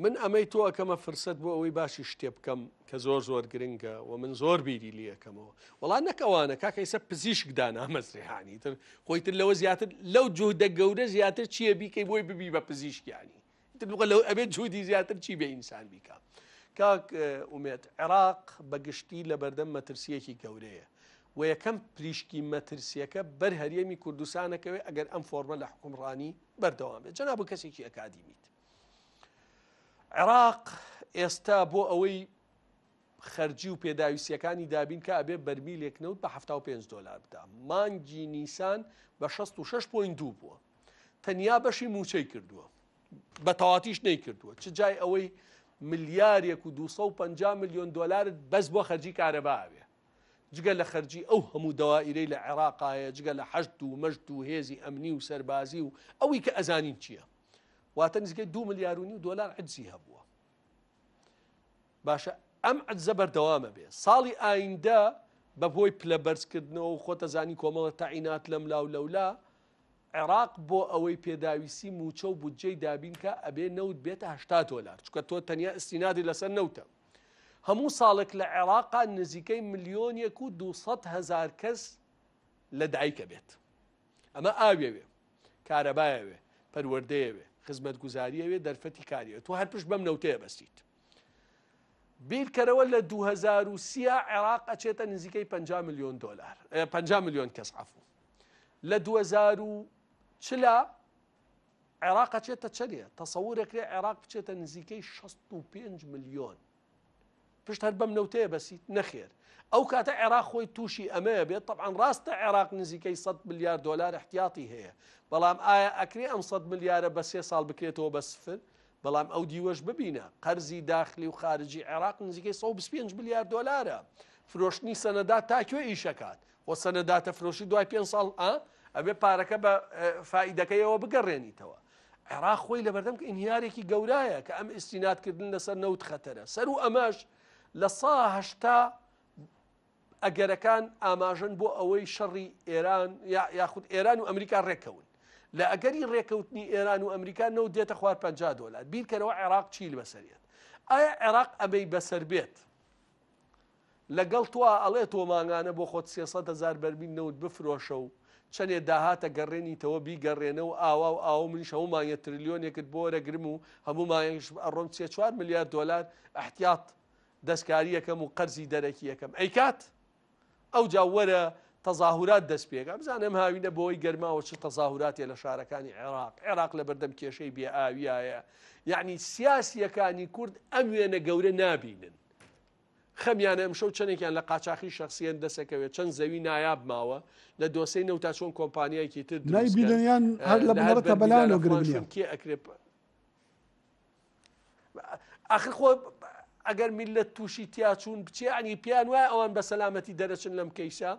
من ئەمەی تۆ ئەکەمە فرسەت بۆ ئەوەی باشی شتێ بکەم کە زۆر زۆر گرنگە و من زۆر بیری لەکەمەوە وڵا نەک ئەوانە کاکەیسە پزیشک دانامەزرێهانی تر خۆی تر لەوە زیاتر لەو جوهدە گەورە زیاتر چییە بیکەی بۆی ببی بە پزیشکیانی لەو ئەبێت جوودی زیاتر چی بە ئینسان بیکە کاک ئومێت عێراق بەگشتی لە بەردەم مەترسیەکی گەورەیە و یەکەم پریشکی مەترسیەکە بەر هەرێمی کوردستانەکەوێ ئەگەر ئەم فۆرمە لە حکومڕانی بەردەوام بێت جەنا بە کەسێکی ئەکادیمیت عێراق ئێستا بۆ ئەوەی خەرجی و پێداویستیەکانی دابین کە ئەبێ بەرمیلێک نەوت بە 5 دلار بدا مانگی نیسان بە 66.2 بووە تەنیا بەشی موچەی کردووە بە تەواتیش نەیکردووە چ جای ئەوەی ملیارێک و 250 میلیۆن دلارت بەس بۆ خەرجی کارەباوێ جگە لە خەرجی ئەو هەموو دەوائیرەی لە عێراقایە جگە لە حەشت و مەشت و هێزی ئەمنی و سەربازی و ئەوی کە ئەزانین چییە واتە نزیکەی دو ملیار و نیو دۆلار عجزی هەبووە باشە ئەم عجزە بەردەوامە بێ ساڵی ئایندە بە بۆی پلە بەرزکردنەوە و خۆتەزانی کۆمەڵە تەعینات لەم لاو لەولا عێراق بۆ ئەوەی پێداویستی موچە و بودجەی دابینکە ئەبێ نەوت بێتەهشتا دۆلار چکە تۆ تەنیا ئستینادی لەسەر نەوتە هەموو ساڵێک لە عێراقا نزیکەی ملیۆنێک و 200 هزار کەس لە دایکە بێت ئەمە ئاویەوێ، کارەبایەوێ، پەروەردەیەوێ، خزمەتگوزاریەوێ، دەرفەتی کاریەوێ، تۆ هەر پشت بەم نەوتەیە بەستیت. بیرکەرەوە لە دوو هەزار و سی عێراق ئەچێتە نزیکەی پەنجا ملیۆن دۆلار، پەنجا ملیۆن کەس عەفوو. لە دوو هەزار و چلا عێراق ئەچێتە چەنێ؟ تەسەوورێکرێ عێراق بچێتە نزیکەی شەست و پێنج ملیۆن. پشت هەر بەم نەوتەیە بەسیت نەخێر ئەو کاتە عێراق خۆی تووشی ئەمەیە بێت طبعاان ڕاستە عێراق نزیکەی 100 ملیار دلار احتیاتی هەیە بەڵام ئایا ئەکرێ ئەم 100 ملیارە بە سێ ساڵ بکرێتەوە بە سفر بەڵام ئەو دیوەش ببینە قەرزی داخلی و خارجی عێراق نزیکەی 125 ملیار دلارە فرۆشتنی سەنەدا تاکوێ ئیشەکات خۆ سەنەداتەفرۆشی دوای پێنج ساڵ ئا ئەبێ پارەکە بە فائیدەکەیەوە بگەڕێنیتەوە عێراق خۆی لەبەردەم ئینهیارێکی گەورایە کە ئەم ئیسیناتکردن لەسەر نەوت خەتەرە سەر و ئەمەش لە ساهشتا ئەگەرەکان ئاماژن بۆ ئەوەی شەڕی ئێران یاخود ئێران و ئەمریکا ڕێکەون لە ئەگەری ڕێکەوتنی ئێران و ئەمریکا نەوت دێتە خوار 50 دلار بیرکەرەوە عێراق چیل بەسەرێت ئایا عێراق ئەمەی بەسەر بێت لەگەڵ تۆا ئەڵێ تۆ مانگانە بۆ خۆت سێ سەد هەزار بەرمیل نەوت بفرۆشە و چەنێ داهاتە گەڕێنیتەوە بیگەڕێنە و ئاوا و ئاوا و منیش هەموو مانگێ ترلیۆنێکت بۆ وەرەگرم و هەموو مانگێکش ئەڕۆم سێ چوار ملیار دۆلار ئەحتیاط دەستکاریەکەم و قەرزی دەرەکی ئەکەم ئەیکات؟ ئەوجا وەرە تەزاهورات دەست پێکە بزانە ئەم هاوینە بۆی گەرماوە چ تەزاهوراتێ لە شارەکانی عێراق عێراق لە بەردەم کێشەی بێ ئاویایە یعنی سیاسیەکانی کورد ئەم وێنە گەورە نابینن خەمیانە ئەمشەو چەندێکیان لە قاچاخی شخصیان دەسەکەوێت چەند زەوی نایاب ماوە لە دۆسەی نەوتا چۆن کۆمپانیایکی تر نایبیدنیان هەر لە بنەڕەتە بەلانەوە گرنگ نیە کێ ئەکرێت ئاخر خۆ ئەگەر میلەت تووشی تیاچوون بچێ ئەنی پێیان وایە ئەوان بە سەلامەتی دەرەچن لەم کەیسە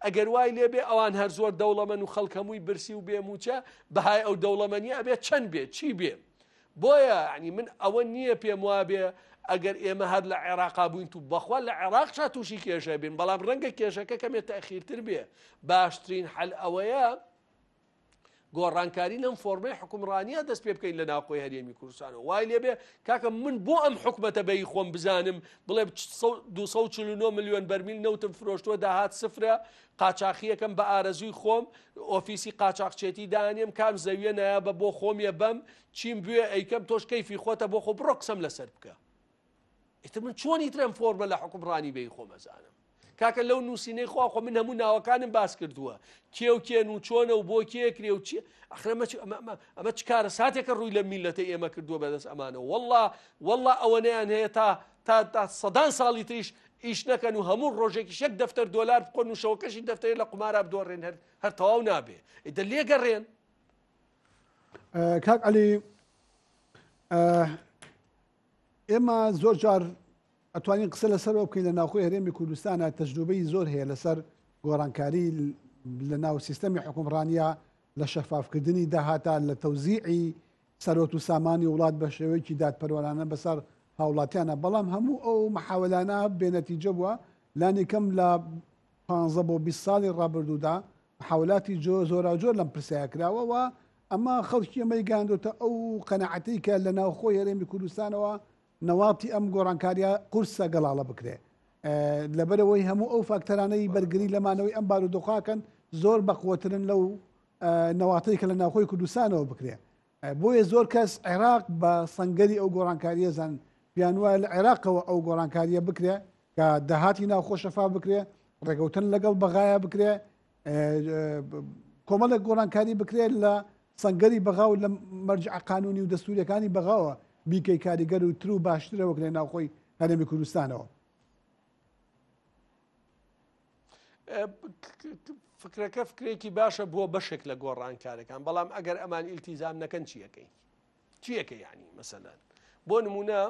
ئەگەر وای لێبێ ئەوان هەر زۆر دەوڵەمەن و خەڵکەمووی برسی و بێموچە بەهای ئەو دەوڵەمەنی ئەبێ چەند بێ چی بێ بۆیە ینی من ئەوە نییە پێم وابێ ئەگەر ئێمە هەر لە عێراقا بووین و بەخوا لە عێراق چا تووشی کێشە بین بەڵام ڕەنگە کێشەکە کەمێت تاخیرتر بێ باشترین حل ئەوەیە گۆڕانکاری لەم فۆرمەی حکومڕانیە دەست پێ بکەین لە ناوخۆی هەرێمی کوردستانەوە وای لێبێ کاکە من بۆ ئەم حکومەتە بەی خۆم بزانم بڵێ 249 میلیۆن بەرمیل نەوتم فرۆشتووە داهات سفرە قاچاخیەکەم بە ئارەزووی خۆم ئۆفیسی قاچاقچێتی دانێم کام زەویە نایە بە بۆ خۆمیە بەم چیم بوێ ئەیکەم تۆش کەیفی خۆتە بۆ خۆ بڕۆ قسەم لەسەر بکە ئیتر من چۆن ئیتر ئەم فۆرمە لە حکومڕانی بێی خۆم ئەزانم کاکە لەو نووسینەی خوا خۆ من هەموو ناوەکانم باس کردووە کێ و کێن و چۆنە و بۆ کێ کرێ و چی ئەخرەمە ئەمە چ کارە ساتێکە ڕووی لە میلەتە ئێمە کردووە بەدەست ئەمانە والله والله ئەوەنەیان هەیە تا تا تا سەدان ساڵی تریش ئیش نەکەن و هەموو ڕۆژێکی شەک دەفتەر دۆلار بکۆن و شەوەکەشی دەفتەر لە قمارە بدۆڕێن هەر هەر تەواو نابێ ئیدە لێگەڕێن کاک علی ئێمە زۆر جار ئەتوانین قسە لەسەرەوە بکەین لە ناوخۆی هەرێمی کوردستانە تەجروبەی زۆر هەیە لەسەر گۆڕانکاری لە ناو سیستەمی حکومڕانیا لە شەفافکردنی داهاتا لە تەوزیعی سەرۆت و سامانی وڵات بە شێوەیەکی دادپەروانانە بەسەر هاوڵاتیانە بەڵام هەموو ئەو مححاولانە بێنەتیجە بووە لانیکەم لە 15 بۆ 20 ساڵی ڕابردوودا محاولاتی جۆ جۆراوجۆر لەم پرسەیا کراوە و ئەمە خەڵکی ئێمەی گەیاندۆتە ئەو قەناعەتەی کە لە ناوخۆی هەرێمی کوردستانەوە نەواتی ئەم گۆڕانکاریە قورسە گەڵاڵە بکرێ لەبەرەوەی هەموو ئەو فاکتەرانەی بەرگری لە مانەوەی ئەم بارودۆخاکەن زۆر بەقوەترن لەو نەواتەی کە لە ناوخۆی کوردستانەوە بکرێ بۆیە زۆر کەس عێراق بە سەنگەری ئەو گۆڕانکاریە دەزانن، پێیان وایە لە عێراقەوە ئەو گۆڕانکاریە بکرێ کە داهاتی ناوخۆ شەفاف بکرێ، ڕێکەوتن لەگەڵ بەغایە بکرێ، کۆمەڵێک گۆڕانکاری بکرێت لە سەنگەری بەغا و لە مەرجع قانونی و دەستوریەکانی بەغاوە بیکەی کاریگەر و تر و باشترە وەک لە ناوخۆی هەرێمی کوردستانەوە. فکرەکە فکرێکی باشە بۆ بەشێک لە گۆڕانکارەکان بەڵام ئەگەر ئەمان ئیلتیزام نەکەن چیەکەی چیەکە یعنی مەسەلەن بۆ نمونە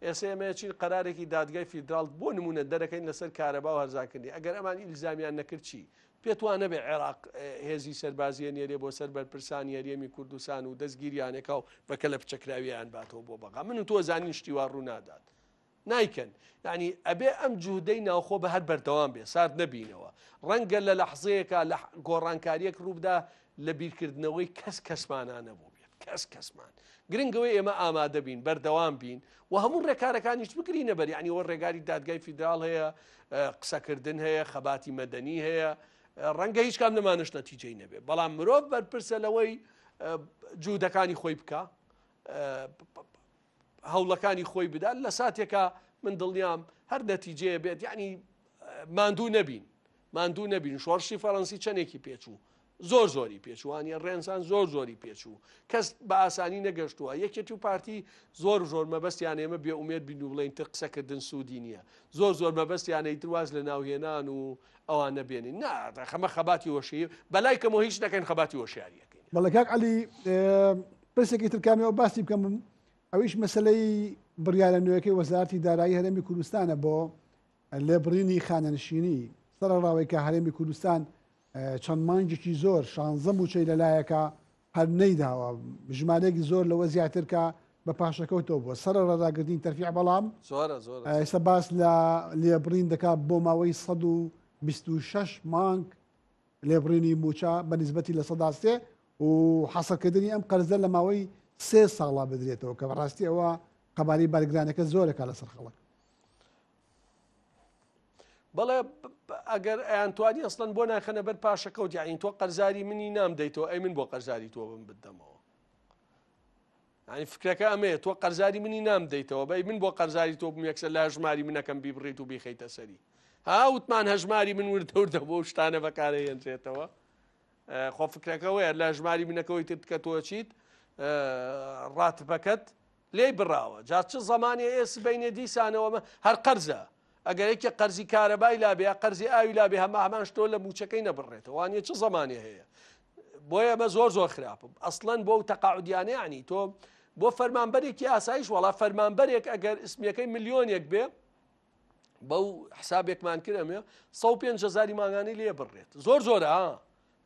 ئێستا ئەمەیەچین قرارێکی دادگای فیدرال بۆ نمونە دەرەکەین لەسەر کارەبا و هەرزانکردنی ئەگەر ئەمان ئیلزامیان نەکردچی پێتوانە بێ عێراق هێزی سەربازیە نێرێ بۆ سەر بەرپرسانی هەرێمی کوردستان و دەستگیریانێکا و بەکە لە پچەکراویان باتەوە بۆ بەغا من و تۆ زانین شتیوا ڕوونادات نایکەن یعنی ئەبێ ئەم جوودەی ناوخۆ بە هەر بەردەوام بێ سارد نەبینەوە ڕەنگە لە لەحزەیەکە لە گۆڕانکاریەک ڕووبدا لە بیرکردنەوەی کەس کەسمانانە بوو بێت کەس کەسمان گرنگەوەی ئێمە ئامادە بین بەردەوام بین و هەموو ڕێکارەکانیش بگری نەبەر ینی وە ڕێگاری دادگای فیدرال هەیە قسەکردن هەیە خەباتی مەدەنی هەیە ڕەنگە هیچ کام لەمانش نەتیجەی نەبێت بەڵام مرۆڤ بەرپرسە لەوەی جوودەکانی خۆی بکە هەوڵەکانی خۆی بدات لە ساتێکا من دڵنیام هەر نەتیجەیە بێت یعنی ماندوو نەبین ماندوو نەبین شۆڕشی فەڕەنسی چەندێکی پێچوو زۆر زۆری پێچوانە ڕێنسان زۆر زۆری پێچوو کەس بە ئاسانی نەگەشتووە یەکێتی و پارتی زۆر زۆر مەبەستیان ئێمە بێ ئومێت بین و بڵین تر قسەکردن سوودی نییە زۆر زۆر مەبەستیانەی درواز لە ناوهێنان و ئەوان نەبێنین ناخەمە خەباتی وەشی بەلای کەمەوە هیچ دەکەین خەباتی وەشیاریەکەین بەڵکاک علی پرسێکی تر کامی ئەو باسی بکەم بم ئەویش مەسلەی بڕیارە نوێەکەی وەزارتی دارایی هەرێمی کوردستانە بۆ لێبڕینی خانەنشینی سەرڕاوی کە هەرێمی کوردستان چەند مانجێکی زۆر شانزە موچەی لەلایەکە هەر نەیداوە ژمارێک زۆر لەوە زیاترکە بە پاشەکەوتەوە بۆ سەر ڕداگردین تەرفی بەڵام ئێستا باس لە لێبڕین دەکات بۆ ماوەی 16 مانگ لێبڕینی مووچە بە نیسبەتی لە سەدا سێ و حەسەکردنی ئەم قەرزە لە ماوەی سێ ساڵا بدرێتەوە کە بەڕاستی ئەوە قەباری بەرگرانەکە زۆرەکە لەسەر خەڵک بەڵێ ئەگەر ئەیانتوانی ئەسڵەن بۆ ناخەنە بەر پاشەکەوت یاین تۆ قەرزاری منی نام دەیتەوە ئەی من بۆ قەرزاری تۆ بم بدەمەوە یانی فکرەکە ئەمەیە تۆ قەرزاری منی نام دەیتەوە بەی من بۆ قەرزاری تۆ بم یەکسەر لە ژماری منەکەم بیبڕیت و بیخیتە سەری هاوتمان هەژماری من وردەوردە بۆ شتانە بەکارە هێنرێتەوە خۆ فکرەکەەوەیە لە ژماری منەکەەوەی تر کە تۆچیت ڕاتبەکەت لێی بڕاوە جا چ زمانی ئێس بینێ دیسانەوەمە هەر قەرزە ئەگەر یەکێ قەرزی کارەبای لابێ یا قەرزی ئاوی لابێ هەما هەمان شتۆ لە موچەکەی نەبڕێتەوە وانە چ زمانێ هەیە بۆ ئێمە زۆر زۆر خراپم ئەسڵەن بۆ و تەقاعودیانە عنی تۆ بۆ فەرمانبەرێکی ئاسایش وڵا فەرمانبەرێک ئەگەر اسمەکەی ملیۆنێک بێ بەو حسابێکمان کرەمێ 150 جزاری ماگانی لێ بڕێت زۆر زۆرە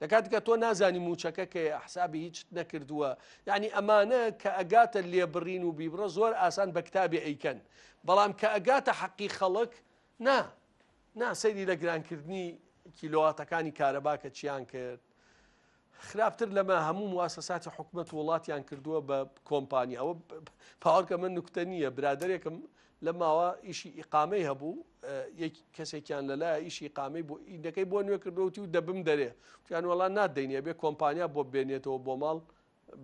لە کاتیکا تۆ نازانی موچەکە کەیە حسابی هیچت نەکردووە یعنی ئەمانە کە ئەگاتە لێبڕین و بیبڕە زۆر ئاسان بە کتابێ ئەیکەن بەڵام کە ئەگاتە حەقی خەڵک نا نا سەیری لە گرانکردنی کیلۆواتەکانی کارەباکە چیان کرد خراپتر لەمە هەموو مواسەساتی حکوومەت وڵاتیان کردووە بە کۆمپانیا ئەوە پاوەکە من نوکتە نییە برادێکم لەم ماوە ئیشی ئیقامەی هەبوو یەک کەسێکیان لەلایە ئیشی ئیقامەی بۆ ئیندەکەی بۆ نوێ کردوەوتی و دەبم دەرێ وتیان وەڵا نادەینێ بێ کۆمپانیا بۆ بێنێتەوە بۆ ماڵ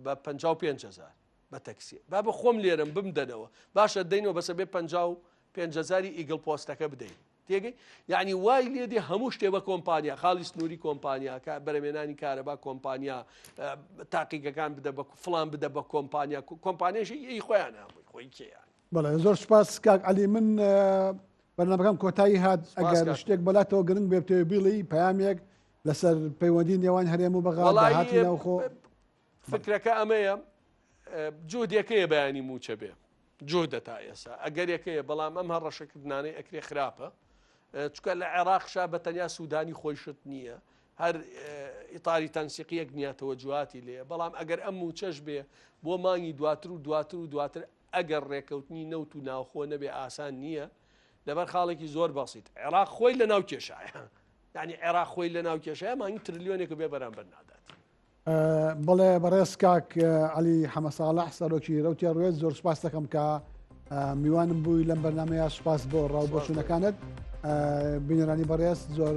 بە 55 هزار بە تەکسی با بە خۆم لێرم بمدەنەوە باشە دەینەوە بەسە بێ 55 هزاری ئیگڵ پۆستەکە بدەین تێگەی یعنی وای لێ دێ هەموو شتێ بە کۆمپانیا خاڵی سنووری کۆمپانیا کە بەرەمێنانی کارەبا کۆمپانیا تاقیگەکان بدە بە فلان بدە بە کۆمپانیا کۆمپانیشی ئەی خۆیان هەمووی خۆی کێیان بەڵێ زۆر سپاس کاک علی من بەرنمەکەم کۆتایی هات ئەگەر شتێک بەلاتەوە گرنگ بێتەوە بیڵی پامێک لەسەر پەیوەندی نێوان هەرێم و بەغاڵاخۆ فکرەکە ئەمەیە جۆدیەکەیە بەیانی موچە بێ جۆدە تا ئێسا ئەگەر یەکەیە بەڵام ئەم هەڕەشەکردانەی ئەکرێ خراپە چکە لە عێراق شا بە تەنیا سوودانی خۆیشت نییە هەر ئیتاری تەنسیقیەک نیاتەوە جوواتی لێ بەڵام ئەگەر ئەم موچەش بێ بۆ مانگی دواتر و دواتر و دواتر ئەگەر ڕێکەوتنی نەوت و ناوخۆ نەبێ ئاسان نییە، لەبەر خاڵێکی زۆر بەسیت، عێراق خۆی لەناو کێشایە. یانی عێراق خۆی لەناو کێشایە مانگی ترلیۆنێک و بێ بەرامبەر نادات. بەڵێ بەڕێز کاک عەلی حەمە ساڵح سەرۆکی رەوتی ڕوێت زۆر سپاس دەکەم کە میوانم بووی لەم بەرنمەیە سپاس بۆ ڕاو بۆچوونەکانت بینەرانی بەڕێز زۆر